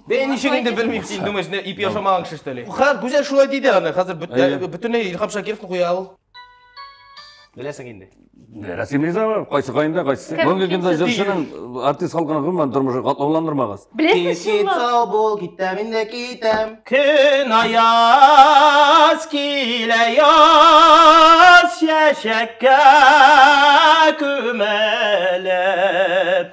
Бәй, ничек инде белмим, син думаешь, не ип яшамаган кеше что ли? Ха, Гүзәл шулай диде аны, хәзер бөт- Әйе. ә, бөтенләй Илһам Шакировны куя ул. Беләсең инде. Рәсем риза бар, кайсы кайында, кайсы. Кем- Бүгенге кем көндә сез? җырчының артист халкына гомумән тормышы катлауландырмагыз. Беләсез шулай. сау бул, китәм инде китәм. Көн аяз килә яз чәчәккә күмәлеп.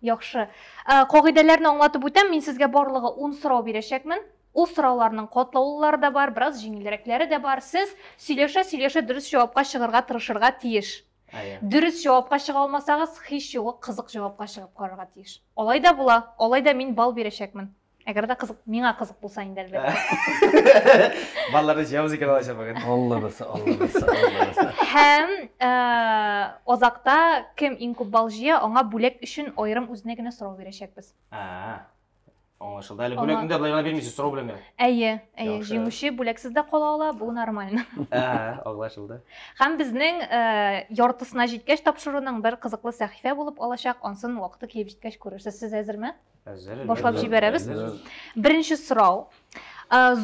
Яхшы. Ә, кагыйдәләрне аңлатып үтәм, мин сезгә барлыгы 10 сорау бирәчәкмен. Ул сорауларның катлаулылары да бар, бераз җиңелрәкләре дә бар. Сез сөйләшә-сөйләшә дөрес җавапка чыгарга тырышырга тиеш. Әйе. Дөрес җавапка чыга алмасагыз, һич югы кызык җавапка чыгып карарга тиеш. Алай да була, алай да мин балл бирәчәкмен. Әгәр дә кызык, миңа кызык булса инде әлбәттә. Балаларны җыябыз икән алачак бүген. Алла берсе, Алла берсе, Алла берсе. Һәм озакта э, кем иң күп балл җыя, аңа бүләк өчен аерым үзенә генә сорау бирәчәкбез. Аңлашылды. Әле бүләкне дә былай гына бирмисез, сорау белән генә. Әйе, әйе, җиңүче бүләксез дә кала ала, бу нормально. Ә, аңлашылды. Һәм безнең э, яртысына җиткәч тапшыруның бер кызыклы сәхифә булып алачак, ансын вакыты килеп җиткәч күрерсез. Сез әзерме? Башлап җибәрәбез. Беренче сорау.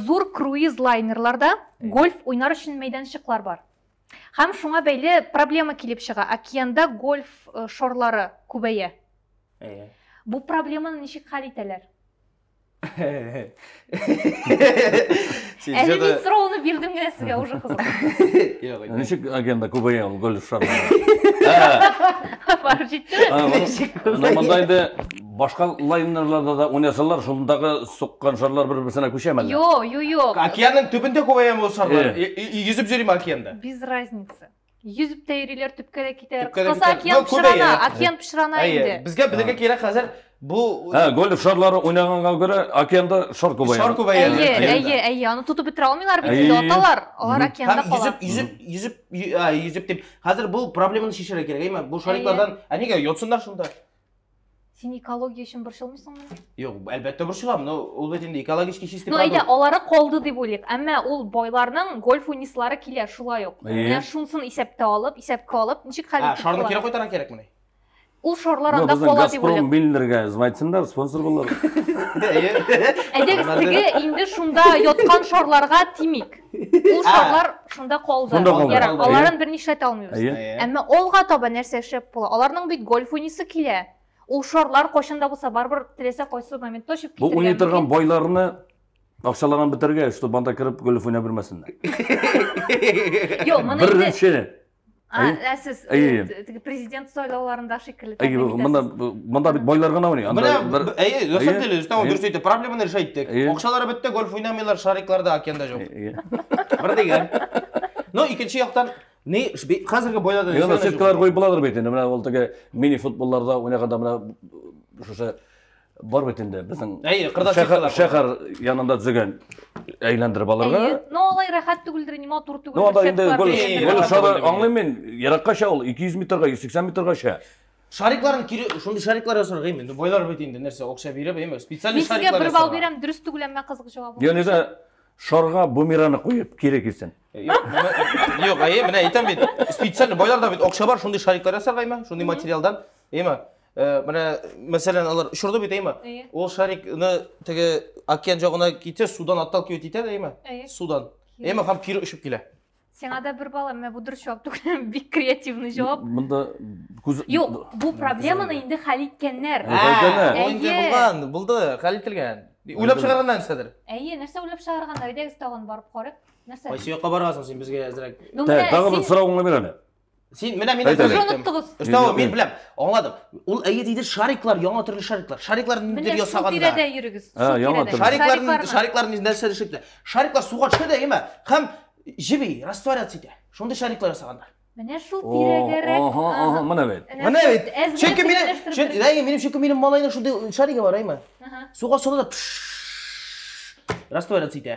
Зур круиз лайнерларда гольф уйнар өчен мәйданчыклар бар. Һәм шуңа бәйле проблема килеп чыга. Океанда гольф э, шорлары күбәя. Бу проблеманы ничек хәл итәләр? Әле мин сорауны бирдем генә сезгә уже кызык. Ничек агенда күбәя ул гөл шар. Барып җитте. Монда инде башка лайнерларда да уйнасалар, шундагы суккан шарлар бер-берсенә күчәме? Юк, юк, юк. Океанның төбендә күбәяме ул шарлар? Йөзеп йөрим океанда. Без разница. Йөзіп тә йөриләр, төпкә дә китәләр. Төпкә дә Кыскасы, китәләр. океан Ну, күбәя. пычрана, океан пычрана Әйе, инде. безгә белергә кирәк хәзер бу Ә, гольф шарлары уйнаганга күрә, океанда шар күбәя. шар күбәя. Әйе, Әйе. әйе, әйе, аны тотып бетерә алмыйлар бит инде Әйе. аталар. Алар Мгм. океанда Һәм кала. йөзеп, йөзеп, йөзеп, йө- а, йөзеп дип. Хәзер бу проблеманы чишәргә кирәк, әйеме? Бу шариклардан, ә нигә йотсыннар шунда? Син экология өчен борчылмыйсыңмы? Юк, әлбәттә борчылам, но ул бит инде экологически чистый Ну, әйдә, алары калды дип уйлыйк. Әмма ул байларның гольф уйныйсылары килә, шулай ук. Менә шунсын исәптә алып, исәпкә алып, ничек хәл итеп Шарны кире кайтарга кирәкмени? Ул шарлар анда кала дип уйлыйк. Газпром Миллерга звайтсындар, спонсор булыр. Әйдәгез, теге инде шунда яткан шарларга тимик. Ул шарлар шунда калды. Шунда калды. Ярар, Калды, аларын берни эшләтә алмыйбыз. Әйе. Әйе. Әмма алга таба нәрсә эшләп була? Аларның бит гольф уйныйсы килә. Ул шарлар кайчан да булса барыбер теләсә кайсы моментта очып Бу китәргә уйный торган мөмкин. байларны акчаларын бетергә, чтобы анда кереп гольф уйнап йөрмәсеннәр. Юк, моны инде Беренче А, Әйе. ә сез э, Әйе, әйе. теге президент сайлауларында шикелле Әй, тәкъдим итәсез. мында монда бит байлар гына уйный. Анда Менә, бер б- әйе, на самом Әйе, деле, Рөстәм, әйе. дөрес әйтте, проблеманы эш әйттек. Әйе. Акчалары бетте, гольф уйнамыйлар, шариклар да океанда җок. Әйе. Бер дигән. Но икенче яктан, ни, ш- бе- хәзерге бойларда Яна нәрсә сеткалар җук? куеп буладыр бит инде. Менә ул теге мини футболларда уйнаганда менә шушы бар бит инде безнең Әйе, кырда шәһәр, чиркәләр шәһәр янында дигән әйләндереп алырга. Әйе. Но алай рәхәт түгелдер, ни матур түгелдер. Ну, анда сетка инде гөл, дигән гөл нәрсә. шары аңлыйм мин, еракка чә ул, 200 метрга, 180 метрга чә. Шарикларын кире, шундый шариклар ясарга инде. Байлар бит инде нәрсә, акча биреп, әйме, специальный Мин сезгә шариклар бер балл ясарга. бирәм, дөрес түгел, әмма кызык җавабы. Яни дә шарга бумераны куеп кире килсен. Юк, менә- юк, әйе, менә әйтәм бит. Специальный байларда бит акча бар, шундый шариклар ясарга, әйме, шундый материалдан, әйме. Э, менә мәсәлән алар очырды бит әйме ул шарикны теге океан җагына китә судан отталкивать итә дә әйме судан әйме һәм кире очып килә сиңа да бер бала менә бу дөрес җавап түгел бик креативный җавап монда күз юк бу проблеманы инде хәл иткәннәр ул инде булган булды хәл ителгән уйлап чыгарганнар нәрсәдер әйе нәрсә уйлап чыгарганнар әйдәгез тагын барып карыйк нәрсә кайсы якка барасың син безгә әзрәк тагын бер сорауыңны бир әле Син менә мин әйтәм. Сез оныттыгыз. Өстәве мин беләм. Аңладым. Ул әйе диде, шариклар, яңа төрле шариклар. Шариклар нидер ясаганда. Менә тирәдә йөрегез. А, яңа төрле. Шариклар, шариклар нидер нәрсә төшеп. Шариклар суга төшә дә, яме, һәм җиби, растворяться итә. Шундый шариклар ясаганда. Менә шул тирәгәрәк. Ага, ага, менә бит. Менә бит. Чөнки мин, чөнки әйе, минем чөнки минем малайның шундый шаригы бар, әйме? Суга сала да растворяться итә.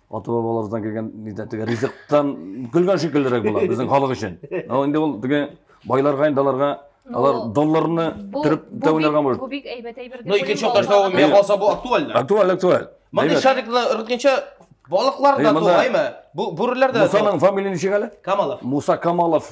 ата бабаларыбыздан килгән нидә теге ризыктан көлгән шикеллерәк була безнең халык өчен ал инде ул теге байларга инде аларга алар долларны төреп тә уйнарга может бу бик әйбәт әйбер но икенче яктан җавабы миңа калса бу актуально актуаль актуаль мондый шарикны ырытканча балыклар да тугаймы бу бүреләр дә мусаның фамилия ничек әле камалов муса камалов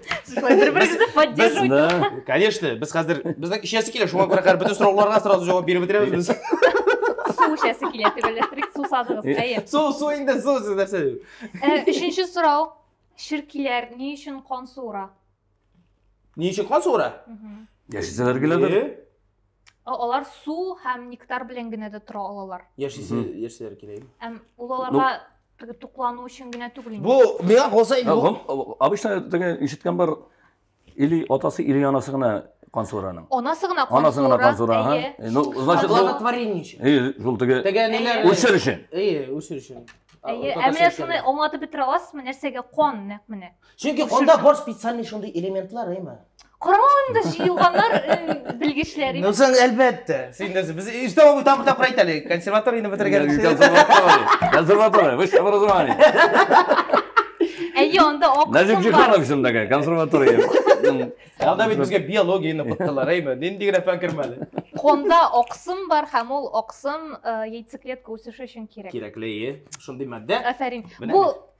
солай бир бирегезне поддерживать да конечно без хәзер безнең эчәсе килә шуңа күрә хәзер бөтен сорауларга сразу җавап биреп бетерәбез без су эчәсе килә дип эләктерик сусадыгыз әйе су су инде су сез нәрсә өченче сорау ширкиләр ни өчен кан суыра ни өчен кан суыра яшисәләр генәдер алар су һәм нектар белән генә дә тора алалар яшисә яшисәләр кирәк ул аларга Туклану өчен генә түгел инде. Бу миңа калса инде бу. Обычно теге ишеткән бар или атасы или анасы гына кан сураның. Анасы гына кан сура. Анасы гына кан сура. Ну, значит, благотворение өчен. Әйе, шул теге. Теге ниләр? Үсер өчен. Әйе, үсер өчен. Әйе, ә менә шуны аңлатып бетерә аласызмы, нәрсәгә кан нәкъ менә? Чөнки канда бар специальный шундый элементлар, әйме? Карамагын да җыелганнар э, белгечләр. Ну, сен әлбәттә. Син дә без өстә бабу там там пройти әле. Консерваторияне бетергән. Консерватория. Консерватория. Высшее образование. Әйе, анда аксым бар. Назик Җиханов исем такая, консерватория. Анда бит безгә биологияне укыттылар, әйме? Нинди генә фән кермәде. Конда аксым бар һәм ул аксым э, яйцеклетка үсеше өчен кирәк. Кирәкле, шундый матдә. Афәрин. Бу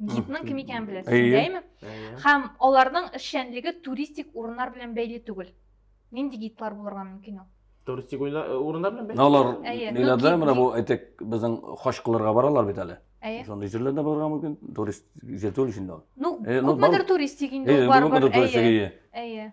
гидның кем икәнен беләсез Әйе. әйме Әйе. һәм аларның эшчәнлеге туристик урыннар белән бәйле түгел нинди гидлар булырга мөмкин ул Туристик уйна- э, урыннар белән бәйле. Алар Әйе. ниләрдә Ну, менә бу әйтик безнең хаҗ кылырга баралар бит әле. әйе Шундый җирләрдә булырга мөмкин. Турист җитүл өчен дә. ну Э, ну, күпмедер бар. туристик инде Әйе, ул барыбер күпмедер туристик әйе әйе. әйе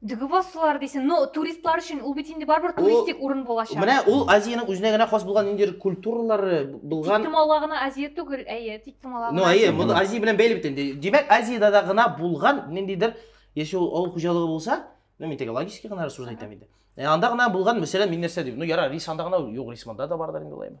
Дгво сулар дисен, но туристлар өчен ул бит инде барыбер туристик урын булачак. Менә ул Азиянең үзенә генә хас булган ниндидер культуралары булган. Тик Тумала гына Азия түгел, әйе, тик Тумала гына. Ну, әйе, моны Азия белән бәйле бит инде. Димәк, Азиядә дә гына булган ниндидер, яши ул авыл хуҗалыгы булса, ну, мин теге логический гына рассуждать итәм инде. Ә анда гына булган, мәсәлән, мин нәрсә дим? Ну, яра, рис анда гына юк, рис монда да бардыр инде, лайма.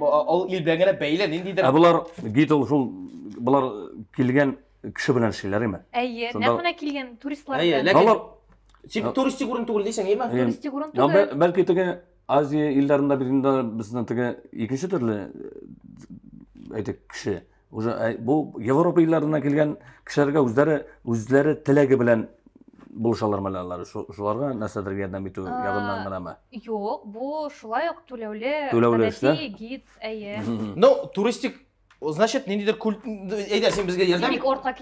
Ул ил белән генә бәйле, ниндидер. Ә болар гидл шул болар килгән кеше белән эшлиләр име? Әйе, нәкъ менә килгән туристлар. Әйе, ләкин тик туристик урын түгел дисең, әйеме? Туристик урын түгел. Бәлки теге Азия илләрендә бирендә безнең теге икенче төрле әйтик кеше уже э, бу европа илләреннән килгән кешеләргә үзләре үзләре теләге белән булышалар менә алар шуларга нәрсәдер ярдәм итү ягыннан гынамы юк бу шулай ук түләүле түләүле эшлә гид әйе ну туристик значит ниндидер культ әйдә син безгә ярдәм ит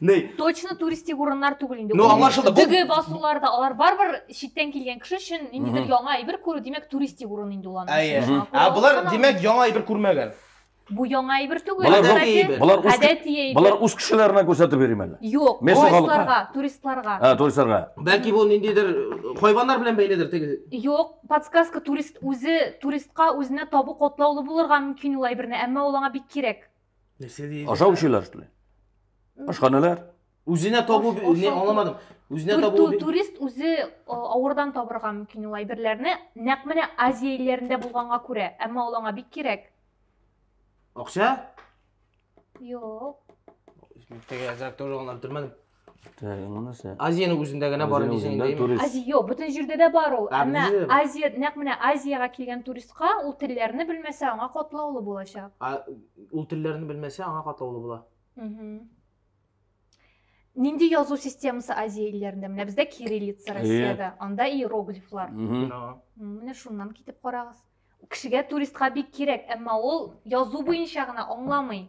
Ней. Точно туристик урыннар түгел инде. Ну, аңлашылды. Бу- Дөге басулар да алар барыбер читтән килгән кеше өчен ниндидер Мгм. яңа әйбер күрү, димәк, туристик урын инде ул аның Әйе. өчен. Мгм. Ә Аңлап болар, алсаң, димәк, яңа әйбер күрмәгән. бу яңа әйбер түгел. Болар Гадәти ру- әйбер. Болар үз Гадәти әйбер. болар үз кешеләренә күрсәтеп йөрим әле. Юк, Месси халыкка. туристларга, туристларга. Ә, туристларга. Бәлки бу ниндидер э, хайваннар белән бәйледер теге. Юк, подсказка турист үзе туристка үзенә табу котлаулы булырга мөмкин ул әйберне, әмма ул аңа бик кирәк. Нәрсә диде? Ашау эчүләр что ли? Ашханәләр? Үзенә табу Аш- не ашау- аңламадым. Үзенә Тур- табу тур- бит- турист үзе э, авырдан табырга мөмкин ул әйберләрне нәкъ менә азия илләрендә булганга күрә әмма ул аңа бик кирәк акча? юк Мектәгә әзрәк тоже аңлап бетермәдем. азияның үзендә генә бар дисең азия юк бүтін жерде дә бар ул әмма азия нәкъ менә азияга килгән туристка ул телләрне белмәсә аңа катлаулы булачак ул телләрне белмәсә аңа катлаулы була нинди язу системасы азия илләрендә менә бездә кириллица россиядә анда иероглифлар менә шуннан китеп карагыз кешегә туристка бик кирәк әмма ул язу буенча гына аңламый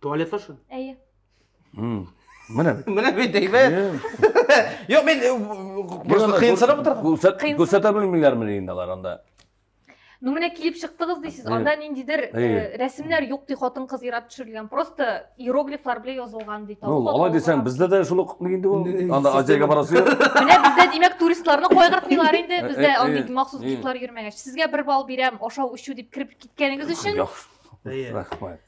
Tuvalet flush'ı. Әйе. М, Менә бит. Менә бит әйбәт. Әйе. Юк, мин э, Гел просто анда кыенсынып күр- утырдым. күрсәт- Кыенсынып. Күрсәтә белмиләрме ни инде алар анда? Ну менә килеп чыктыгыз дисез, Әйе. анда ниндидер э, Әйе. рәсемнәр юк ди хатын-кыз ирап төшерелгән, просто иероглифлар белән язылган ди. Ну, Тавык алай дисәң, атылган. бездә дә шул ук инде ул. Инде- Анда Азиягә барасы юк. Менә бездә димәк туристларны кайгыртмыйлар инде, Э, бездә э, андый э, махсус э. гидлар йөрмәгәч. Сезгә бер балл бирәм, ашау-эчү дип кереп киткәнегез өчен. Яхшы. Әйе. Рәхмәт.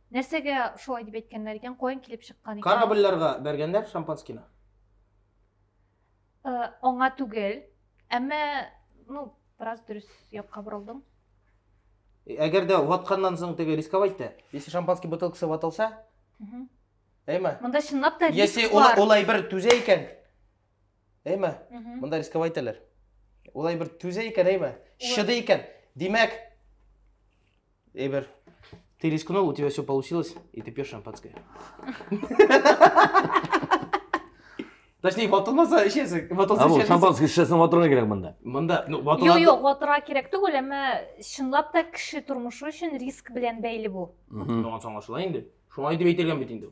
Нәрсәгә шулай дип әйткәннәр икән, каян килеп чыккан икән? Корабльләргә бәргәннәр шампанскийны. Э, аңа түгел. Әмма, ну, бераз дөрес якка борылдың. Э, әгәр дә ватканнан соң теге рисковать та. Если шампанский бутылкасы ватылса, әйме? Монда чынлап та риск бар. Если ул, ул әйбер түзә икән, әйме мында рисковать итәләр улай бер түзә икән әйме шыды икән димәк әйбер ты рискнул у тебя все получилось и ты пьешь шампанское Точнее, ватылмаса эчәсең. Ватылса эчәсең. Шампанский эчәсең, ватырга кирәк монда. Монда, ну, ватыла. Юк, юк, ватырга кирәк түгел, әмма чынлап та кеше тормышы өчен риск белән бәйле бу. Моңа соңлашыла инде. Шуңа дип әйтелгән бит инде.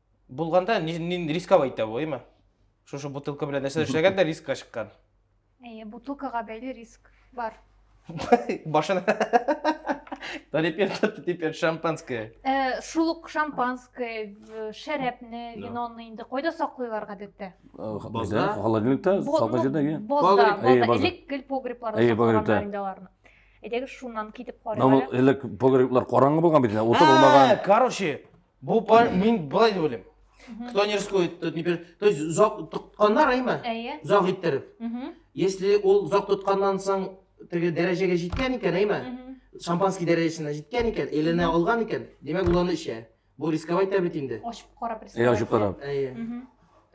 Булганда нин рисковать итә бу, әйме? Шушы бутылка белән нәрсә эшләгән дә рискка чыккан. Әйе, бутылкага бәйле риск бар. Башына. Да теперь, теперь шампанское. Э, шул ук шампанское, шәрәпне, виноны инде кайда саклыйлар гадәттә? Э, бозда, холодильникта, саклы җирдә, иә. Бозда, бозда, элек гел погребларда саклыйлар инде аларны. Әйдәгез шуннан китеп карыйк. Элек погреблар караңгы булган бит, уты булмаган. Короче, Бу пар, мин былай дип уйлыйм. Кто не рискует, тот не пер... То есть зак тотканнар әйме? Әйе. Зак иттереп. Если ул зак тотканнан соң теге дәрәҗәгә җиткән икән, әйме? Шампанский дәрәҗәсенә җиткән икән, эленә алган икән, димәк ул аны эчә. Бу рисковать та бит инде. Ачып карап рисковать. Әйе, ачып карап. Әйе.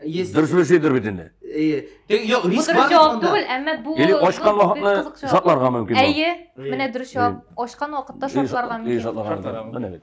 Есть. Дөрес дөрес әйтер бит инде. Әйе. Тик юк, риск бар. Бу җавап түгел, әмма бу Или ашкан вакытны шартларга мөмкин. Әйе. Менә дөрес җавап. Ашкан вакытта шартларга мөмкин. Әйе, шартларга мөмкин. Менә бит.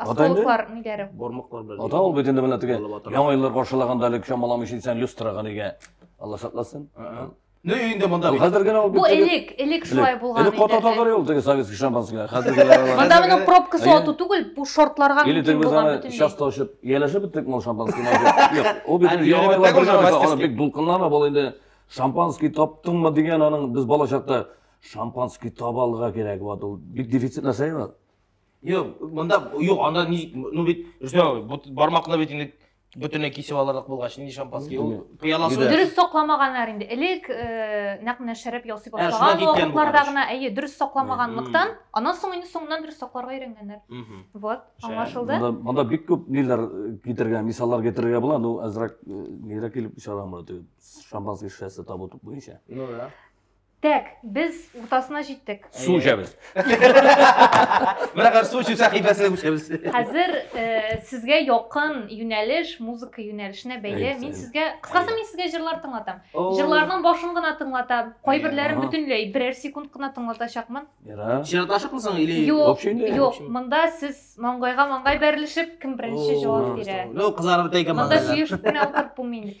Автологлар ниләре? Бормыклар белән. Ата ул бит инде менә теге яңа еллар каршылаганда әле чамалам өчен сән люстрага нигә Алла сакласын. Ну инде монда бит. Хәзер генә ул бит. Бу элек, элек шулай булган иде. Элек кота татар ул теге советский шампанское. Хәзер генә. Монда моның пробкасы ату түгел, бу шортларга мөмкин булган бөтен. Или часто ошып, ялашып биттек мол шампанский. Юк, ул бит яңа еллар каршылаганда бик дулкынлана бул инде. Шампанский таптыңмы дигән аның без балачакта шампанский табалга кирәк вот ул бик дефицит нәрсә Юк, монда юк, анда ни, ну бит, Рүстәм абый, бармакны бит инде бөтенләй кисеп алырлык булгач, нинди шампанский? Ул пыяласы Юда. Дөрес сакламаганнар инде. Элек э, нәкъ менә шәраб ясый Ә, шунда башлаган киткән бу вакытларда караш. гына, әйе, дөрес сакламаганлыктан, аннан соң инде соңыннан дөрес сакларга өйрәнгәннәр. Мгм. Вот, Шәп. аңлашылды. Монда, монда бик күп ниләр э, китергән, мисаллар китергән була, ну әзрәк э, нигрәк килеп чыгам бу шампанский шешәсе табу буенча. Ну да. Так, без уртасына җиттек. Су эчәбез. Бирәгәр су чүсә хибәсенә күчәбез. Хәзер э, сезгә якын юнәлеш, музыка юнәлешенә бәйле. Мин сезгә, кыскасы мин сезгә җырлар тыңлатам. Җырларның башын гына тыңлатам. Кайберләрен бөтенләй берәр секунд кына тыңлатачакмын. Чираташыкмы соң или? Юк, юк, монда сез маңгайга маңгай бәрелешеп, кем беренче җавап бирә. Ну, кызлар бит әйгән. Монда сөешеп кенә утырып булмый инде.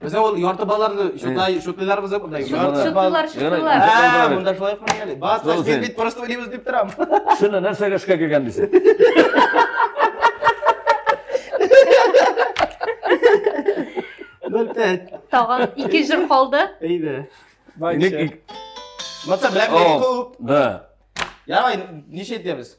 Бездә ул ярты балаларны шутлай, шутлыйлар бездә монда. Шутлыйлар, шутлыйлар. Ә, монда шулай кылмый әле. Бас, син бит просто уйлыйбыз дип торам. Шуны нәрсәгә эшкә килгән дисең? Бәлтәт. Тагын ике җыр калды. Әйдә. Бай. Матса белән күп. Да. Ярай, ничә итәбез?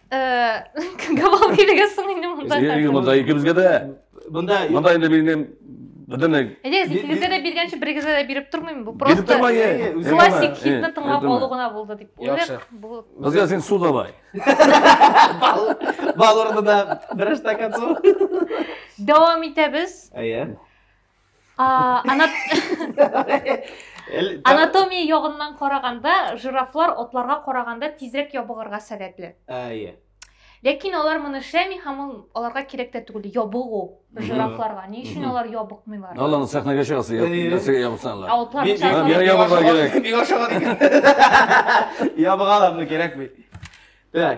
Габал килеге соң инде монда. Инде монда икебезгә дә. Монда монда инде минем бөтенләй. Әйдә, икегезгә дә биргәнче берегезгә дә биреп тормыйм. Бу просто классик хитны тыңлап алу гына булды дип уйлыйк. Безгә син су давай. Бал урынына бер стакан су. Дәвам итәбез. Әйе. анатомия ягыннан караганда жирафлар атларга караганда тизрәк ябыгырга сәләтле әйе ләкин алар моны эшләми һәм ул аларга кирәк тә түгел ябыгу жирафларга ни өчен алар ябыкмыйлар алланы сәхнәгә чыгасы нәрсәгә ябыксанлар ябыгалар кирәкми так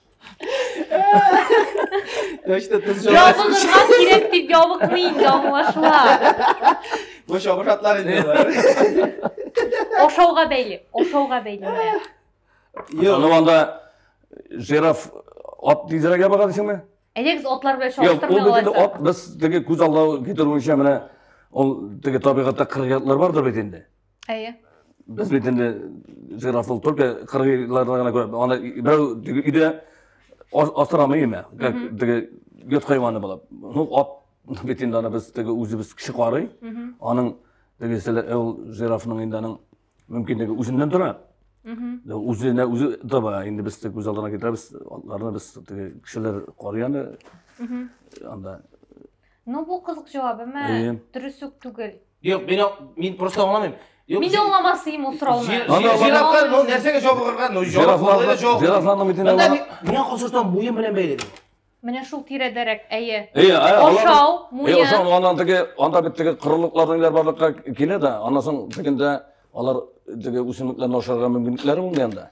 Точно тыз Ябыгырга кирәк дип ябыкмый инде аңлашыла. Бу шабыр атлар инде алар. Ашауга бәйле, ашауга бәйле. Юк. Аны анда жираф ат тизрәк ябыга дисеңме? Әйдәгез атлар белән чагыштырмый аласыз. Ул бит ат без теге күз аллау китерүенчә менә ул теге табигатьтә кыргыятлар бардыр бит инде. Әйе. Без бит инде жирафыл только кыргыйларда гына күрәбез. Аны берәү өйдә асрамый име? Теге йот хайваны булып. Ну, ат бит инде аны без теге үзебез кеше карый. Аның теге ул жирафның инде аның мөмкинлеге үзеннән тора. Үзенә үзе таба. Инде без теге күз алдына китерәбез. Атларны без теге кешеләр карый аны. Анда Ну бу кызык җавап, әмма Әйе. дөрес үк түгел. Юк, мин ак- мин просто аңламыйм. Юк, Мин дә жи- аңламасыйм ул сорауны. жи- Ана, жи- ана. Жирафка ну нәрсәгә җавап алырга? Ну җавап алырга җавап. Жирафларны бит инде Мында алар- ми- Миңа калсаң буен белән бәйле. Менә шул тирәдәрәк, әйе. Әйе, әйе, алар- Ашау, Е, муен. ошо анан теге анда бит теге корылыклардан иләр барлыкка килә дә, аннан соң тегендә алар теге үсемлекләрне ашарга мөмкинлекләре булмый анда.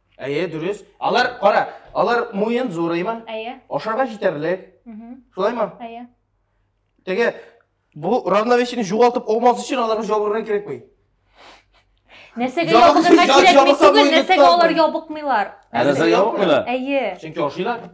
Әйе, дөрес. Алар, кара, алар муен зурыймы? Әйе. Ашарга җитәрлек. Шулаймы? Әйе. Теге бу равновесиене югалтып алмас өчен аларга җабырырга кирәкми. Нәрсәгә ябыкырга кирәкми түгел, нәрсәгә алар ябыкмыйлар? Нәрсәгә ябыкмыйлар? Әйе. Чөнки ашыйлар.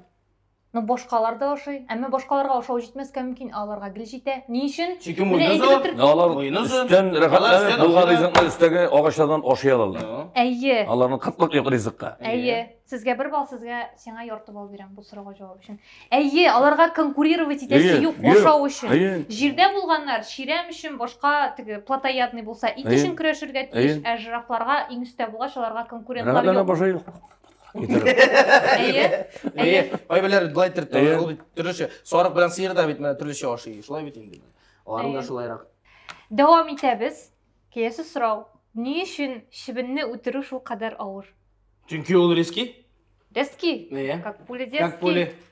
Ну, башкалар да ашый. Әмма башкаларга ашау җитмәскә мөмкин, ә аларга гел җитә. Ни өчен? Чөнки Менә муйны әйтеп зур. бетердем. Ә алар Муены зур. өстән Алар рәхәтләнеп өстән булган ашыйлар. ризыкны өстәге агачлардан ашый алалар. Ну. Әйе. Аларның кытлык юк ризыкка. Әйе. Сезгә бер балл, сезгә сиңа ярты балл бирәм бу сорауга җавап өчен. Әйе, аларга конкурировать итәсе Әйе, юк юк. ашау өчен. Әйе. Җирдә булганнар чирәм өчен башка теге плотоядный булса ит Әйе. өчен көрәшергә тиеш, Әйе. ә жирафларга иң өстә булгач аларга конкурентлар Рәхәтләнеп юк. ашый. Әйе. Әйе. Кайберләре болай иттереп тора, ул бит төрлечә. Сарык белән сыер да бит менә төрлечә ашый. Шулай бит инде. Аларның да шулайрак. Дәвам итәбез. Киләсе сорау. Ни өчен чебенне үтерү шул кадәр авыр? Чөнки ул риски. Риски? Әйе. Как пули детский. Как пули.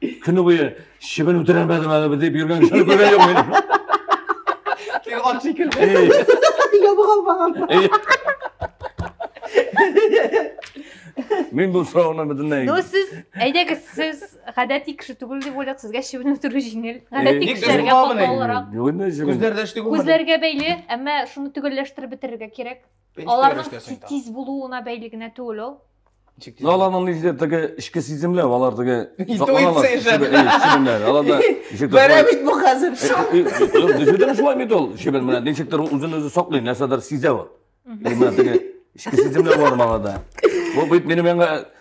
Көне буе чебен үтерәмәдем әле дип йөргән кешене күргән юк мин. Теге ат шикелле. Ябык алмаган. Мин бу сорауны бөтенләй. Ну сез, әйдәгез, сез гадәти кеше түгел дип уйлыйк, сезгә чебен үтерү җиңел. Гадәти Ник кешеләргә без каталырак. Күзләрдә шти Күзләргә бәйле, әмма шуны төгәлләштереп бетерергә кирәк. Аларның тиз булуына бәйле генә түгел ул. Ну, аларның нигездә теге эчке сиземләр, алар теге Интуиция җәбе. Чебенләр, аларда ничек Бәрә бит бу хәзер. Дөресен шулай бит ул. Чебен менә ничектер үзен үзе саклый, нәрсәдер сизә ул. Менә теге эчке сиземләр бар аларда. Бу бит минем аңа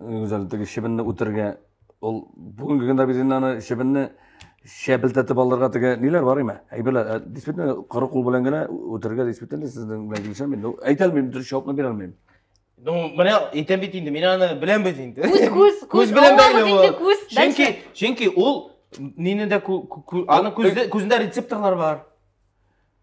Гүзәл теге чебенне үтергә ул бүгенге көндә без инде аны чебенне шәбелтәтеп алырга теге ниләр бар име? Әйберләр. Ә, Действительно, коры кул белән генә үтергә действительно сезнең белән килешәм мин. Ну, әйтә алмыйм, дөрес җавапны бирә алмыйм. Ну, менә әйтәм бит инде, мин аны беләмбез инде. Күз, күз, күз. Күз белән Аллабыз бәйле инде ул. күз. Чөнки, Дальше. чөнки ул нине дә кү- кү- кү- аны күздә- күзендә рецепторлар бар.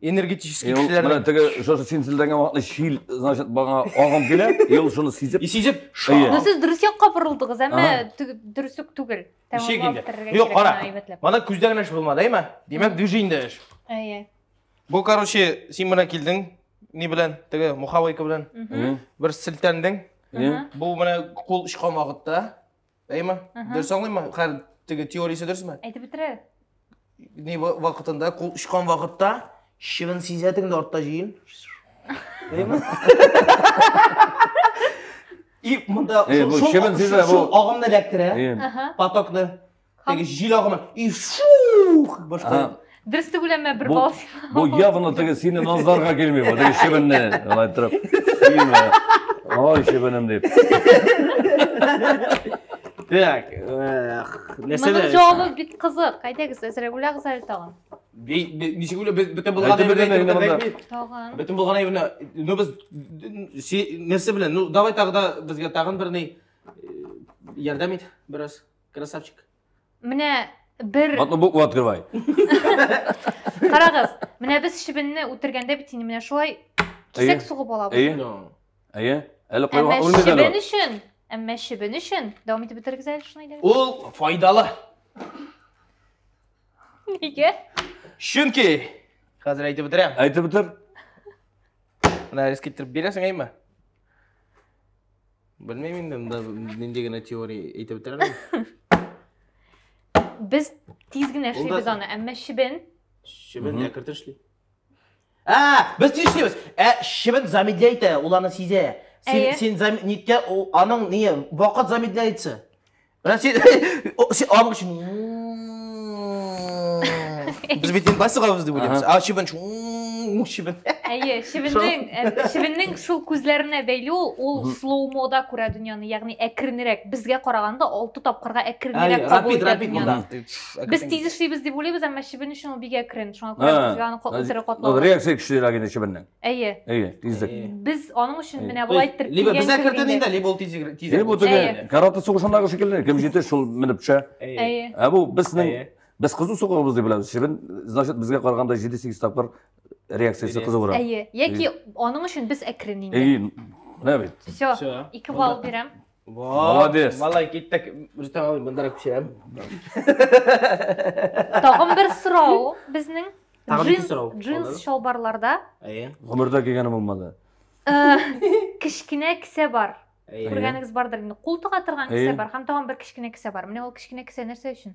энергетический кешеләр менә теге шушы син селдәнгән вакытны чил значит бага агым килә и ул шуны сизеп и сизеп ну сез дөрес якка борылдыгыз әмма дөрес үк түгел юк кара моны күздә генә эш булмады әйме димәк движениедә эш әйе бу короче син менә килдең ни белән теге мухавейка белән бер селтәндең бу менә кул өч камагытта Әй ма? Дөрес аңлыйм ма? Хәл теге теориясе дөрес ме? Әйтеп бетерә. Ни вакытында, кул очкан вакытта, чебен сизә тегендә артта җыен. Әй ма? И монда шул чебен сизә бу. Агымны эләктерә. Потокны. Теге җил агымы. И шух! Башка. Дөрес түгел әмма бер бал син. Бу явно теге сине назларга килми бу. Теге шебенне алай торып. Сине. Ой, шебенем дип. Так, нәрсә дә? Моның җавабы бик кызык. Әйдәгез, әзрәк уйлагыз әле тагын. Ничек уйлап бөтен булган әйберне тагын. Бөтен булган әйберне. Ну без нәрсә белән? Ну давай тагы да безгә тагын берни ярдәм ит бераз. Красавчик. Менә бер Одну букву открывай. Карагыз, менә без чебенне үтергәндә бит инде менә шулай кисәк сугып алабыз. Әйе. No. Әйе. Әле Әмма кайга үлмәде чебен әле. өчен, әмма чебен өчен дәвам итеп бетерегез әле шуны әйдәгез. Ул файдалы. Нигә? Чөнки хәзер әйтеп бетерәм. Әйтеп бетер. Менә риск иттереп бирәсең әйме? Белмим инде, монда нинди генә теория әйтеп бетерәләр. Без тиз генә Ул да- эшлибез аны, әмма чебен Чебен Мгм. әкертер эшли. А, без тиз эшлибез. Ә чебен замедляй итә, ул аны сизә. Син, Әйе. син зам... ниткә, ул- аның не, вакыт замедляется. Менә син син абыч. Без бит инде басыга үз дип уйлыйбыз. А чибен чибен. Әйе, чибеннең э, чибеннең шул күзләренә бәйле ул, ул слоумода күрә дөньяны, ягъни әкренрәк, безгә караганда 6 тапкырга әкренрәк кабул итә дөньяны. Без тиз эшлибез дип уйлыйбыз, әмма чибен өчен ул бик әкрен, шуңа күрә безгә аны катыры катлау. Реакция көчлерәк инде чибеннең. Әйе. Әйе, тизлек. Без аның өчен менә болай иттереп Либо без әкертен инде, либо ул тизрәк. Әйе, бу теге караты сугышындагы шикелле, кем җитә, шул менеп төшә. Әйе. Ә бу безнең без кызу сугуыбыз дип беләбез. Чебен, значит, безгә караганда 7-8 тапкыр реакциясе кызуырак. Әйе. Яки аның өчен без әкрен инде. Әйе. Менә бит. Все, ике балл бирәм. Молодец. Малай киттек. Рөстәм абый, монда пешерәм. Тагын бер сорау безнең. Тагын ике сорау. Джинс шалбарларда. Әйе. Гомердә кигәне булмады. Э, кечкенә кесә бар. Күргәнегез бардыр инде. Кул тыга торган кесә бар һәм тагын бер кечкенә кесә бар. Менә ул кечкенә кесә нәрсә өчен?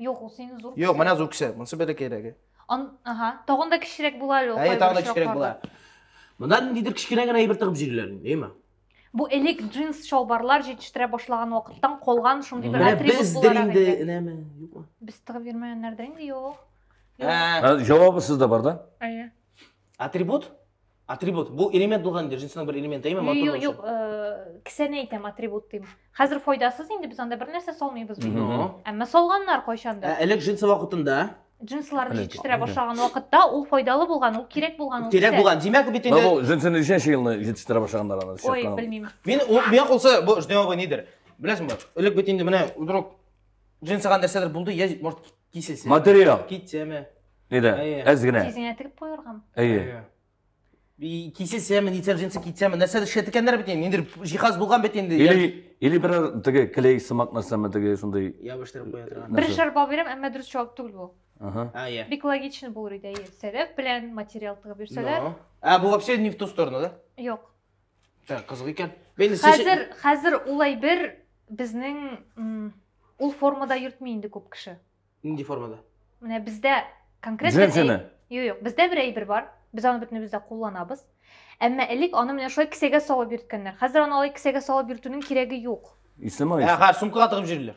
Юк, ул синең зур Юк, менә зур кисәк. Монысы бәләкәй кирәге. Ан, ага. Тагын да кечерәк була әле ул. Әйе, тагын да кечерәк була. Монда ниндидер кечкенә генә әйбер тыгып җирләр, әйеме? Бу элек джинс чалбарлар җитештерә башлаган вакыттан калган шундый бер атрибут була. Без инде инәме, юкмы? Без тыгып йөрмәгәннәрдә инде юк. Ә, җавабы сездә бар да? Әйе. Атрибут? Атрибут. Бу элемент булган инде, җинсның бер элементы, әйме? Юк, юк, юк, э, кесәне әйтәм, атрибут дим. Хәзер файдасыз инде без анда бер нәрсә салмыйбыз бит. Әмма салганнар кайчанда. Элек җинсы вакытында джинсларны җитештерә башлаган вакытта ул файдалы булган, ул кирәк булган ул. Кирәк булган. Димәк бит инде. Бу джинсны ничәнче елны җитештерә башлаганнар аны? Ой, белмим. Мин миңа калса бу ждем абы нидер. Беләсеңме? Элек бит инде менә вдруг джинсыга нәрсәдер булды, я может Кисәсеме? Материал. Китсәме? Әйдә, әз генә. Тизеңә тегеп куергам. Әйе. Кисәсеме, нитсәм җинсы китсәме, нәрсә эшләп икәннәр бит инде. Инде җиһаз булган бит инде. Или или бер теге клей сымак нәрсәме теге шундый. Ябыштырып куя торган. Бер шар бал бирәм, әмма дөрес җавап түгел бу. Ага. А, я. Бик логично булыр иде, әйе. Сәләф белән материал тыгып йөрсәләр. Ә бу вообще не в ту сторону, да? Юк. Так, кызык икән. Мин Хәзер, хәзер ул әйбер безнең ул формада йөртми инде күп кеше. Нинди формада? Менә бездә конкрет бер Джинсины? Юк, юк, бездә бер әйбер бар. Без аны бөтенебез дә кулланабыз. Әмма элек аны менә шулай кесәгә салып йөрткәннәр. Хәзер аны алай кесәгә салып йөртүнең кирәге юк. Исламай. Ә хәзер сумкага тыгып җөрлиләр.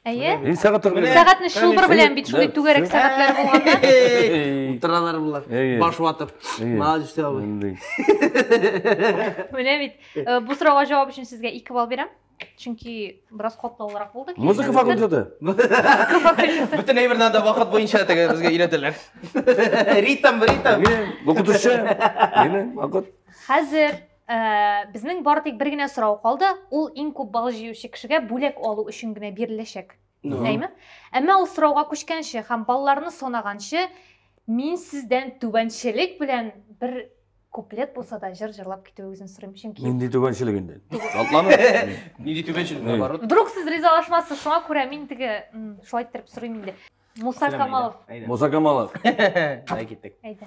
Әйе? Ин сәгать тә белә. Сәгатьне шубыр белән бит шундый түгәрәк сәгатьләр булганда. Утыралар булар. Баш ватып. Молодец дә бу. Менә бит. Бу сорауга җавап өчен сезгә 2 балл бирәм. Чөнки бераз катлаулырак булды. Музыка факультеты. Музыка факультеты. Бүтән әйбердән дә вакыт буенча тәгә безгә өйрәтәләр. Ритм, ритм. Бу кутушы. Менә вакыт. Хәзер Ә, безнең бары тик бер генә сорау калды, ул иң күп бал җыючы кешегә бүләк алу өчен генә биреләчәк. Ну. Әйме? Әмма ул сорауга күчкәнче һәм балларны санаганчы, мин сездән түбәнчелек белән бер куплет булса да җыр җырлап китүегезне сорыйм, чөнки Нинди түбәнчелек инде? Шатлану. Нинди түбәнчелек, Эй. наоборот. вдруг сез ризалашмассыз, шуңа күрә мин теге м, шулай иттереп сорыйм инде. Муса Камалов, Әйдә. Муса Камалов. Әй, киттек. әйдә.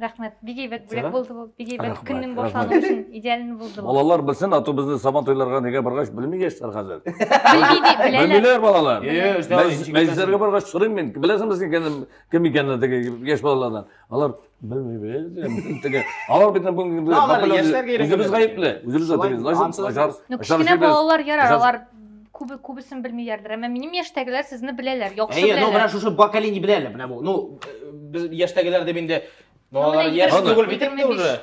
рахмет бик әйбәт бүләк булды бу бик әйбәт көннең башлануы өчен идеаль булды балалар белсен а то безне сабан туйларга нигә баргач белми яшьләр хәзер белмиләр балалар мәҗлесләргә баргач сорыйм мин беләсеңме син кем икәнен теге яшь балалардан алар белмибез алар бит бүгенге үзебез гаепле үзебез начар кечкенә балалар ярар алар Күбе күбесен белмиләрдер, әмма минем яшьтәгеләр сезне беләләр, яхшы Әйе, ну менә шушы поколение белә әле менә бу. Ну, э, без яшьтәгеләр дип инде. Ну, Ну, алар яшь түгел бит инде уже.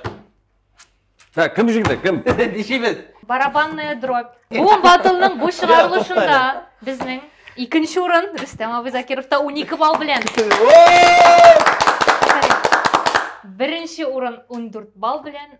Так, кем җиңде? Кем? Дишибез. Барабанная дробь. Бу батлның бу чыгарылышында безнең икенче урын Рөстәм абый Закировта унике балл белән. Беренче урын 14 балл белән,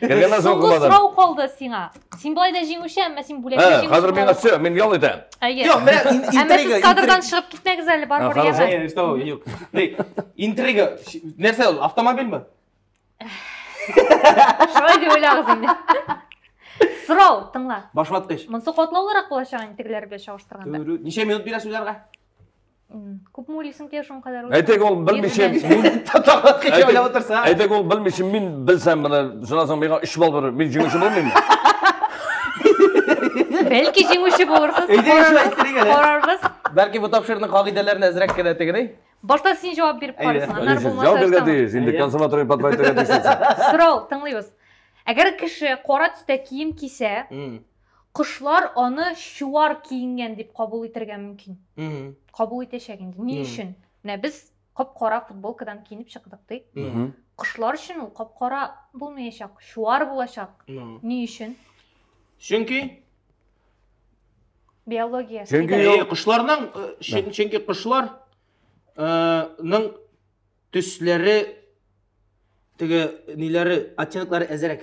Кергәннән соң Соңгы кулладым. сорау калды сиңа. Син былай да җиңүче, әмма син бүләкне Ә, җиңүче. хәзер миңа все, мин ял итәм. Әйе. Юк, менә ин- Әмма интрига. сез кадрдан интрига. чыгып китмәгез әле, бар А, бер хорошо. яме. Э, что, юк. Эй, Интрига. Ш- Нәрсә ул? Автомобильме? Шулай дип уйлагыз инде. Сорау, тыңла. Башваткыч. Монсы катлаулырак булачак интегеләр белән чагыштырганда. Дөрү. Ничә минут бирәсез үзләргә? күпме уйлыйсың кия шуның кадәр әйтәк ул белмичә уйлап отырса әйтәк ул белмичә мин белсәм менә шуннан соң миңа өч балл бирер мин җиңүче булмыйммы бәлки җиңүче булырсыз карарбыз бәлки бу тапшыруның кагыйдәләрен әзрәк кенә тегерәй башта син җавап биреп карыйсың аннары булмаса җавап бирергә тиеш инде консуматория подбайтырга тиеш сорау тыңлыйбыз әгәр кеше кара төстә кием кисә Кошлар аны чуар киенгән дип кабул итергә мөмкин. Кабул итәчәк инде. Ни өчен? Менә без кап-кара футболкадан киенеп чыктык ди. Кошлар өчен ул кап-кара булмаячак, чуар булачак. Ни өчен? Чөнки биология. Чөнки кошларның чөнки кошларның Төсләре теге ниләре оттенклары әзерәк.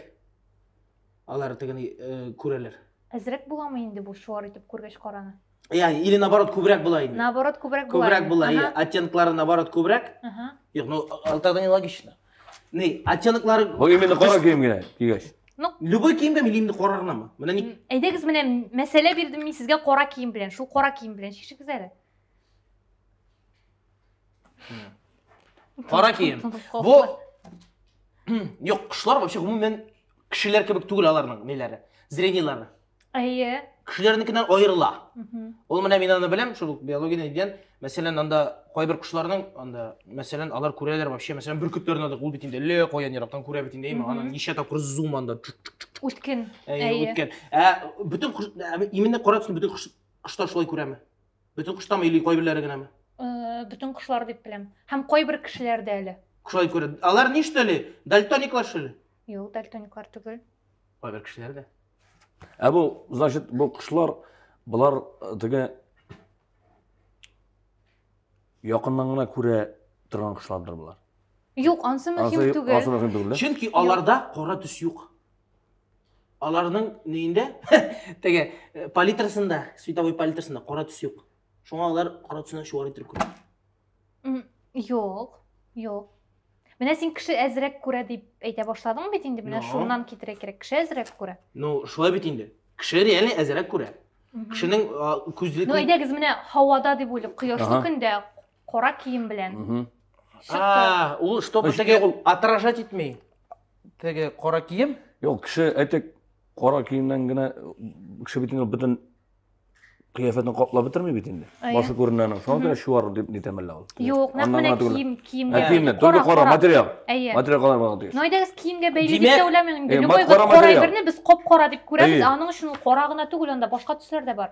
Алар тегени э, күрәләр. Әзрәк буламы инде бу чуар итеп күргәч караны? Я, или наоборот күбрәк була инде. Наоборот күбрәк була. Күбрәк була, я, оттенклары наоборот күбрәк. Ага. Юк, ну алтарда не логично. Ни, оттенклары Бу именно кара кием генә кигәч. Ну, любой киемгә милли инде кара гынамы? Менә ни? Әйдәгез менә мәсьәлә бирдем мин сезгә кара кием белән. Шул кара кием белән чишегез әле. Кара кием. Бу Юк, кышлар вообще гомумән кешеләр кебек түгел аларның ниләре, зрениеләре. Әйе. Кешеләрнекеннән аерыла. Ул менә мин аны беләм, шул биологияне дигән, мәсәлән, анда кайбер кошларның анда, мәсәлән, алар күрәләр вообще, мәсәлән, бөркетләрне дә ул бит инде ле каян ерактан күрә бит инде, имә аны ничә тапкыр зум анда. Үткен. Әйе, үткен. Ә бөтен именно кара төсне бөтен кошлар шулай күрәме? Бөтен коштамы или кайберләре генәме? Э, бөтен кошлар дип беләм. Һәм кайбер кешеләрдә әле. Шулай күрә. Алар ни что ли? Дальтониклар что ли? Юк, дальтониклар түгел. Кайбер кешеләрдә. Ә бу, значит, бу кошлар, болар э, теге якыннан гына күрә торган кошлардыр болар. Юк, ансы мөһим түгел. Чөнки аларда кара төс юк. Аларның нейендә, теге э, палитрасында, световой палитрасында кара төс юк. Шуңа алар кара төсне шуар итеп күрә. М, Юк, юк. Менә син кеше әзрәк күрә дип әйтә башладың бит инде. Менә Ну. шуннан китерә кирәк. Кеше әзрәк күрә. Ну, шулай бит инде. Кеше реально әзрәк күрә. Мгм. Кешенең а, күзле Ну, әйдәгез, менә һавада дип уйлыйк. Кояшлы Ага. көндә Кара кием белән. Мгм. Чыкты. А, ул чтобы Значит, теге ул- отражать итми. Теге кара кием. Юк, кеше әйтик, кара киемнән генә кеше бит инде бөтен кыяфәтен каплап бетерми бит инде. Әйе. Башы күренә аның. Шуңа күрә чуар дип нитәм әллә ул. Юк, нәкъ Аннан менә гына түгел. кием, Ә, киемгә. киемне, только кара, материал. Әйе. Материал кара булырга тиеш. Ну әйдәгез киемгә бәйле дип Димәк, тә уйламыйм инде. э, Любой мат- бер кара кара материал. әйберне без кап-кара дип күрәбез, Әйе. ә аның өчен ул кара гына түгел, анда башка төсләр дә бар.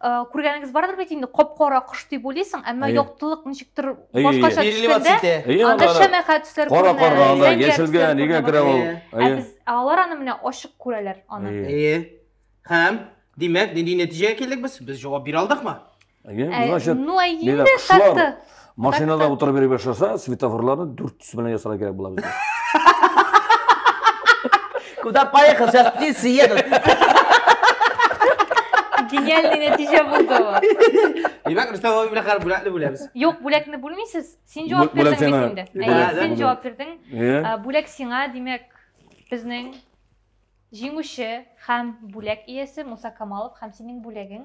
күргәнегез бардыр бит инде кап кара кош дип уйлыйсың әмма яктылык ничектер башкача төшкәндә анда шәмәхә төсләр кара кара анда яшелгә нигә керә ул ә без алар аны менә ачык күрәләр аны әйе һәм димәк нинди нәтиҗәгә килдек без без җавап бирә алдыкмы значит ну әйе инде шахты Машинада Так, утырып йөри башласа, светофорларны дүрт төс белән ясарга кирәк була безгә. Куда поехал? Сейчас птицы едут. Гениальный нәтиҗә булды бу. Димәк, Рөстәм абый белән хәр бүләкне бүләбез. Юк, бүләкне бүлмисез. Син Бү- җавап бүләк бирдең сиңа. бит инде. Әйе, Бүләк син сиңа. җавап бирдең. Иә? Ә, Бүләк сиңа, димәк, безнең җиңүче һәм бүләк иясе Муса Камалов һәм синең бүләгең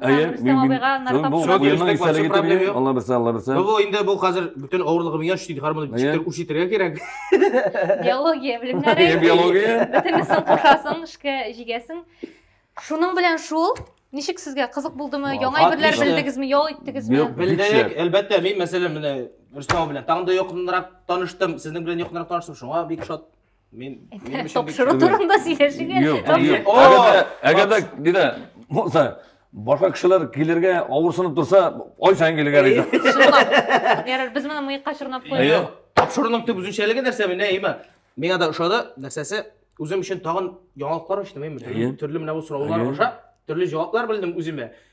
Әйе, Рөстәм мин- абыйга мин- наркотик бу- Всё, бу елның дөрестәк, истәлеге вообще проблем түгел. юк. Алла бирсә, Алла бирсә. Ну, бу инде бу хәзер бөтен авырлыгы миңа шти хармоны Әйе. читтер үрчетергә кирәк. биология Әйе, белемнәре биология. бөтенесен кушасың эшкә җигәсең шуның белән шул ничек сезгә кызык булдымы Вау, яңа әйберләр отлично. белдегезме ял иттегезме Бил- Белдек, Бикче. әлбәттә, мин мәсәлән менә Рөстәм белән тагын да якынрак таныштым, сезнең белән якынрак таныштым, шуңа бик шат. Мин минем өчен бик Тапшыру турында сөйләшергә. Юк, Тапшыру- юк. О! Әгәр дә- Әгәр дә диде, булса, башка кешеләр килергә авырсынып торса, ай саен килергә риза. Чынлап. Ярар, без моны мыекка чорнап Әйе. куйдык. Тапшыруның төп үзенчәлеге нәрсә менә әйме? Миңа да ошады нәрсәсе. Үзем өчен тагын яңалыклар ачтым әйме? Әйе. Төрле менә бу сораулар Әйе. аша төрле җаваплар белдем үземә.